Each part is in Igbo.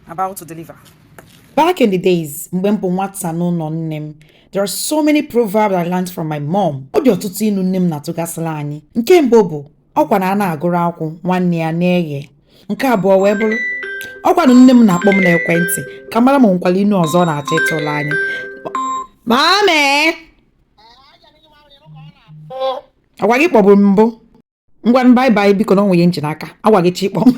about to deliver. Back in the days, mgbe m bụ nwata n'ụlọ nne m, there are so many proverbs I learned from my mom. Ọ dị ọtụtụ ilu nne m na-atụgasịla anyị. Nke mbụ bụ ọkwa na a na-agụrụ akwụ nwanne ya na-eghe. Nke abụọ wee bụrụ ọkwanụ nne m na-akpọ m n'ekwentị ka m mara ma o nwekwara inu ọzọ ọ na-achọ ịtụrụ anyị. Mame! Ọkwa gị kpọburu m mbụ. ngwanụ bye bye biko na o nwe ihe m ji n'aka agwa gị echi kpọ m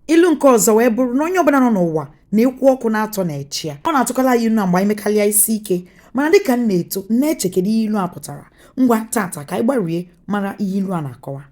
ilu nke ọzọ wee bụrụ na onye ọbụla nọ n'ụwa na ekwu ọkụ naatọ na-eche ya ọ na-atụkala anyị ilu a mgbe anyị mekarịa isi ike mana dịka m na-eto na-eche kedu ihe ilu a pụtara ngwa taata ka anyị gbarie mara ihe ilu a na-akọwa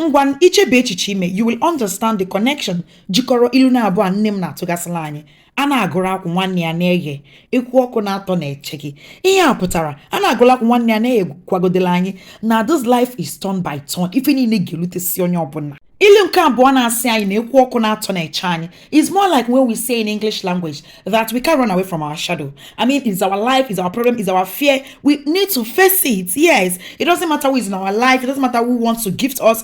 ngwa i chebe echiche ime you will understand the connection jikọrọ ilu naabụọ a nne m na-atụgasịla anyị a na-agụrụ akwụ nwanne ya na-eghe ekwu ọkụ naatọ na-eche gị ihe a pụtara a na-agụrụ akwụ nwanne ya na-eghe kọwagodela anyị na this life is turn by turn ife niile ga-elutesi onye ọbụla ilu nke abụọ na-asị anyị na ekwu ọkụ naatọ na-eche anyị is more like when we say in English language that we can't run away from our shadow I mean it's our life it's our problem it's our fear we need to face it yes it doesn't matter who is in our life it doesn't matter who wants to gift us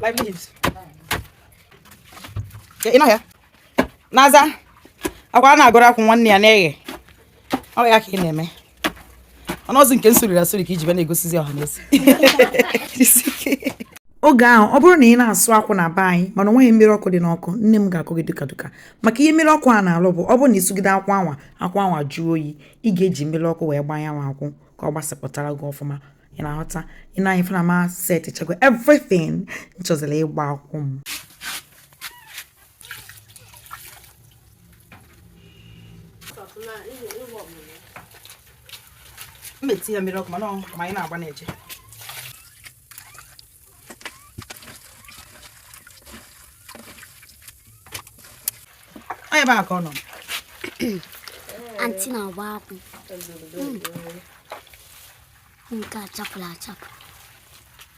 Five minutes. Ị nọ ya? Naza, ọkwa a na-agụrụ akwụ nwanne ya na-eghe. ọ ya ka ị na-eme ọnọzi nke m sụriri asụri ka i ji bịa na-egosizi ọha na eze oge ahụ ọ bụrụ na ị na-asụ akwụ na be anyị mana onweghị mmiri ọkụ dị n'ọkụ nne m ga-akụ gị duka duka maka ihe mmiri ọkụ a na-alụ bụ ọ bụrụ na ị sụgide akwụ anwa akwụ anwa jụọ oyi ị ga-eji mmiri ọkụ wee gbanye n'akwụ ka ọ gbasapụtara gị ọfụma ị na-aghọta i nee anya fụ na m a set chakwa everything m chọzila ịgba akwụ m m etiye mmiri ọkụ mana ma anyị na-agba na-eje ebe a ka ọ nọ anti na-agba akwụ nke a chapụrụ achapụ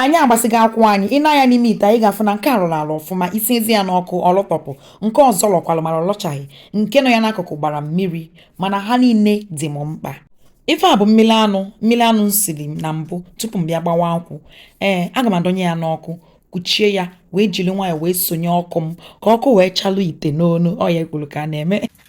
anyị agbasịgo akwụ anyị i nee anya n'ime ite a ị ga-afụ na nke a lọrọ alọ ọfụma i siezie ya n'ọkụ ọ lọtọpụ nke ọzọ lọkwalụ mana ọ lọchaghị nke nọ ya n'akụkụ gbara mmiri mana ha niile dị m mkpa ife a bụ mmiri anụ m siri na mbụ tupu m bịa gbawa akwụ aga m adọnye ya n'ọkụ kuchie ya wee jiri nwayọọ wee sonye ọkụ m ka ọkụ wee chalụ ite n'ọnụ ọ ya e kwuru ka a na-eme